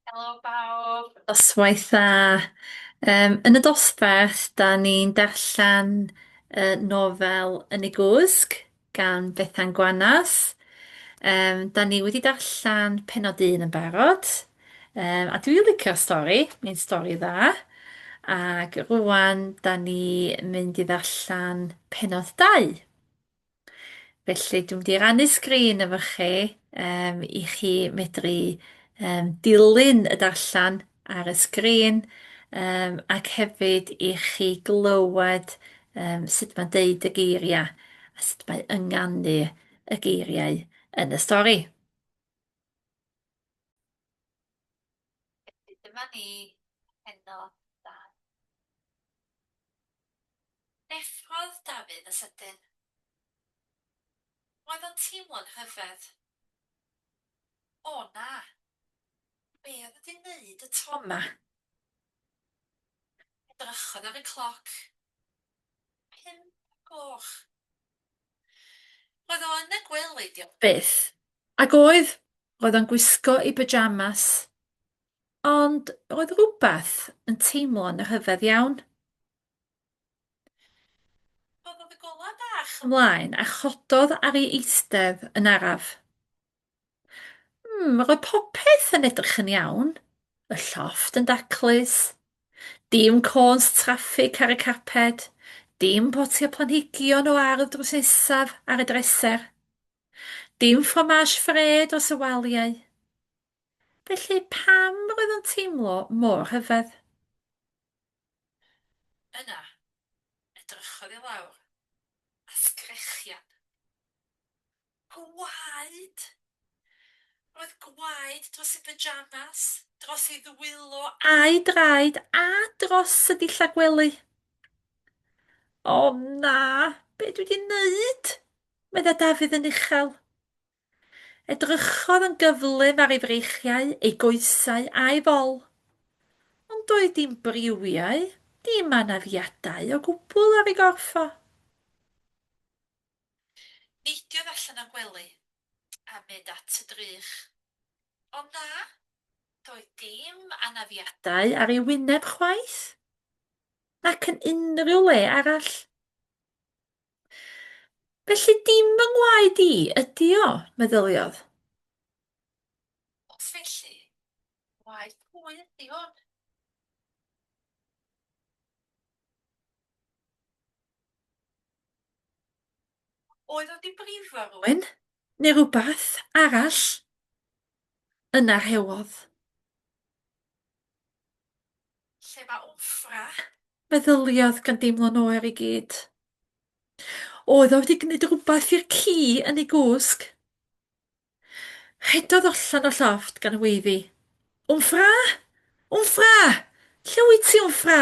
Helo bawb! Noswaith dda. Yym, yn y dosbarth, da ni'n darllen y nofel Yn y Gwsg gan Bethan Gwanas. Yym, da ni wedi darllen pennod un yn barod, um, a dwi'n licio'r stori, mae'n stori dda. Ac rwan, da ni mynd i ddarllen pennod dau. Felly dwi'n mynd i rannu sgrin efo chi um, i chi medru um, dilyn y darllen ar y sgrin um, ac hefyd i chi glywed um, sut mae'n deud y geiriau a sut mae ynganu y geiriau yn y stori. Dyma ni heno Effrodd Dafydd y sydyn. Roedd o'n teimlo'n rhyfedd. O, na! Be oedd wedi wneud y to 'ma? Edrychodd ar y cloc. Pump o'r gloch. Roedd o yn y gwely, diolch byth. Ac oedd, roedd o'n gwisgo ei byjamas. Ond oedd rhywbeth yn teimlo'n rhyfedd iawn. Rhoddodd y golau bach ymlaen a chododd ar ei eistedd yn araf. Hmm, roedd popeth yn edrych yn iawn. Y llofft yn daclus. Dim côns traffig ar y carped. Dim potiau planhigion o ardd drws nesaf ar y dreser. Dim ffromage fred dros y waliau. Felly pam roedd o'n teimlo mor rhyfedd? Yna, edrychodd i lawr, a sgrechian. Gwaed! Roedd gwaed dros ei byjamas, dros ei ddwylo a'i draed, a dros y dillad gwely. O na, be dwi wedi wneud? Meddai Dafydd yn uchel. Edrychodd yn gyflym ar ei freichiau, ei goesau, a'i fol. Ond doedd dim briwiau, dim anafiadau o gwbl ar ei gorff o. Neidiodd allan o'r gwely, a mynd at y drych. Ond na, doedd dim anafiadau ar ei wyneb chwaith, nac yn unrhyw le arall. Felly dim fy ngwaed i ydi o, meddyliodd. Os felly, waed pwy ydi hwn? Oedd o di brifo rhywun, neu rhywbeth arall? Yna rhewodd. Lle mae Ofra? meddyliodd gan deimlo'n oer i gyd. Oedd o wedi gwneud rhywbeth i'r ci yn ei gwsg? Rhedodd allan o llofft gan weiddi. Wmffra! Wmffra! Lle wyt ti, Wmffra?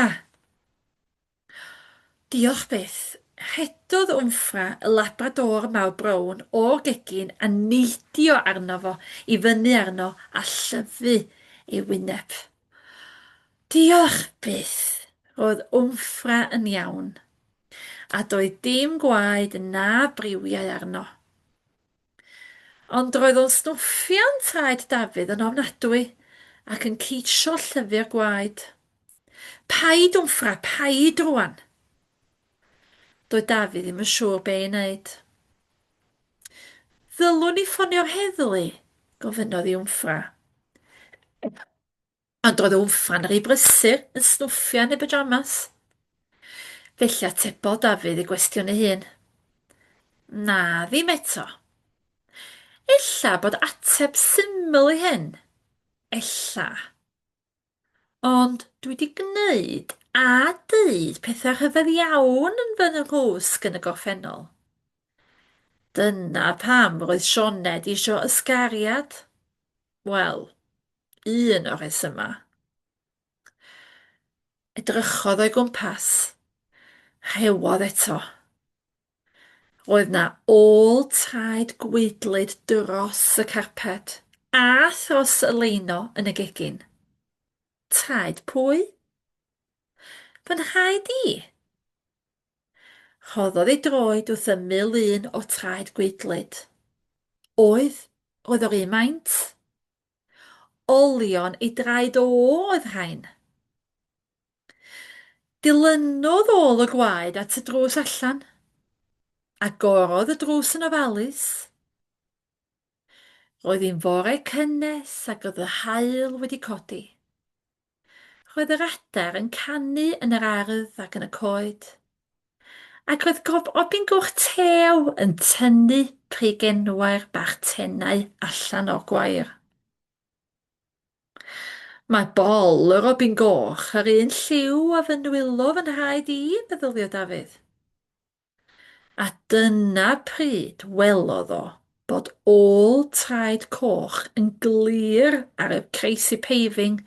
Diolch byth. Rhedodd Wmffra, y labrador mawr brown, o'r gegin a neidio arno fo, i fyny arno a llyfu ei wyneb. Diolch byth! Roedd Wmffra yn iawn. A doedd dim gwaed na briwiau arno. Ond roedd o'n snwffian traed Dafydd yn ofnadwy, ac yn ceisio llyfio'r gwaed. Paid, Wmffra, paid rwan! Doedd Dafydd ddim yn siŵr be' i wneud. Ddylwn i ffonio'r heddlu? gofynnodd i Wmffra. Ond doedd Wmffan rhy brysur yn snwffio yn ei byjamas. Felly atebodd Dafydd ei gwestiwn ei hun. Na, ddim eto. Ella bod ateb syml i hyn. Ella. Ond dwi wedi gwneud a dweud pethau rhyfedd iawn yn fy nghwsg yn y gorffennol. Dyna pam roedd Sioned eisiau ysgariad. Wel, un o'r rhesymau. Edrychodd o'i gwmpas. Rhewodd eto. Roedd na ôl traed gweidlyd dros y carped a thros y leino yn y gegin. Traed pwy? Fy nhraed i! Rhoddodd ei droed wrth ymyl un o traed gweidlyd. Oedd, roedd o'r un maint. Olion ei draed o oedd rhain. Dilynodd ôl y gwaed at y drws allan. Agorodd y drws yn ofalus. Roedd hi'n fore cynnes ac oedd y haul wedi codi. Roedd yr adar yn canu yn yr ardd ac yn y coed. Ac roedd gob obyn goch tew yn tynnu preigenwair bach tenau allan o'r gwair. Mae bol y robin goch yr un lliw a fy nwylo fy nhraed i, meddylia Dafydd. A dyna pryd welodd o bod ôl traed coch yn glir ar y crazy paving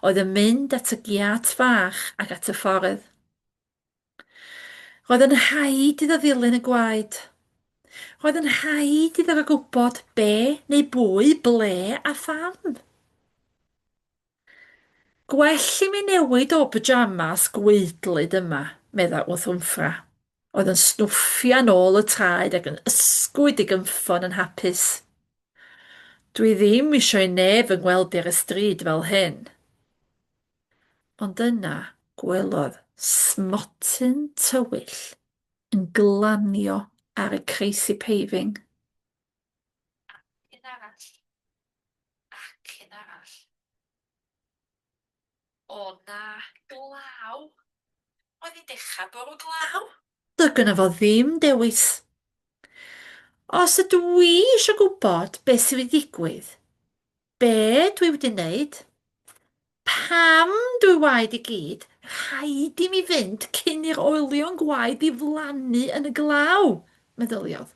oedd yn mynd at y giât fach ac at y ffordd. Roedd yn rhaid iddo ddilyn y gwaed. Roedd yn rhaid iddo fo gwybod be neu bwy, ble a pham. Gwell i mi newid o byjamas gwaedlyd yma, medda Wthwmffra, oedd yn snwffian ôl y traed ac yn ysgwyd i gynffon yn hapus. Dwi ddim isio i neb fy ngweld i ar y stryd fel hyn. Ond yna gwelodd smotyn tywyll yn glanio ar y crazy paving. Ar y llun arall, ac un arall. O na, glaw! Oedd hi'n dechrau bwrw glaw! Doedd gynno fo ddim dewis. Os ydw i eisiau gwybod beth sydd wedi digwydd, be dwi wedi wneud, Pam, dwy waed i gyd, rhaid i mi fynd cyn i'r olion gwaed ddiflannu yn y glaw? meddyliodd.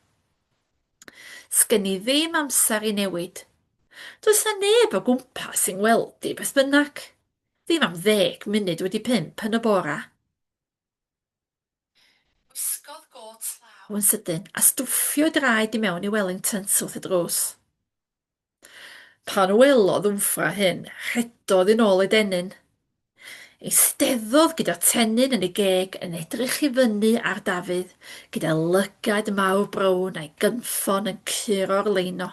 Sgen i ddim amser i newid. Does na neb o gwmpas i ngweld i beth bynnag. Ddim am ddeg munud wedi pump yn y bora. Gwisgodd gôt law yn sydyn a stwffio draed i mewn i Wellingtons wrth y drws. Pan welodd Wmffra hyn, rhedodd yn ôl ei dennyn. Eisteddodd gyda tennyn yn ei geg yn edrych i fyny ar Dafydd gyda lygad mawr brown a'i gynffon yn curo'r leino.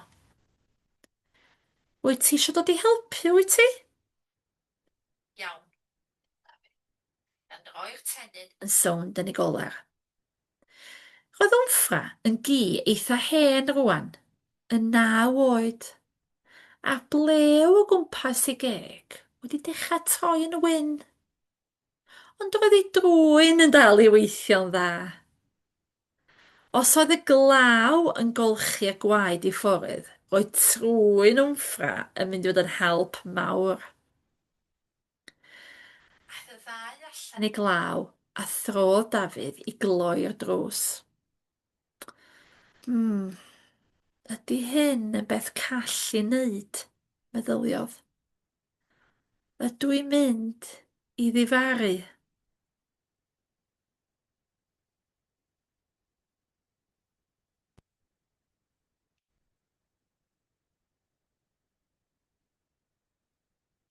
Wyt ti eisiau dod i helpu, wyt ti? Iawn. Yn oer tenyn yn sownd yn y goler. Roedd Wnffra yn gi eitha hen rwan, yn naw oed, a'r blew o gwmpas ei geg wedi dechrau troi yn wyn. Ond roedd ei drwyn yn dal i weithio'n dda. Os oedd y glaw yn golchi y gwaed i ffwrdd, roedd trwyn Wnffra yn mynd i fod yn help mawr. Aeth y ddau allan i glaw a throdd Dafydd i gloi'r drws. Mm, ydy hyn yn beth call i wneud, meddyliodd. Ydw i'n mynd i ddifaru?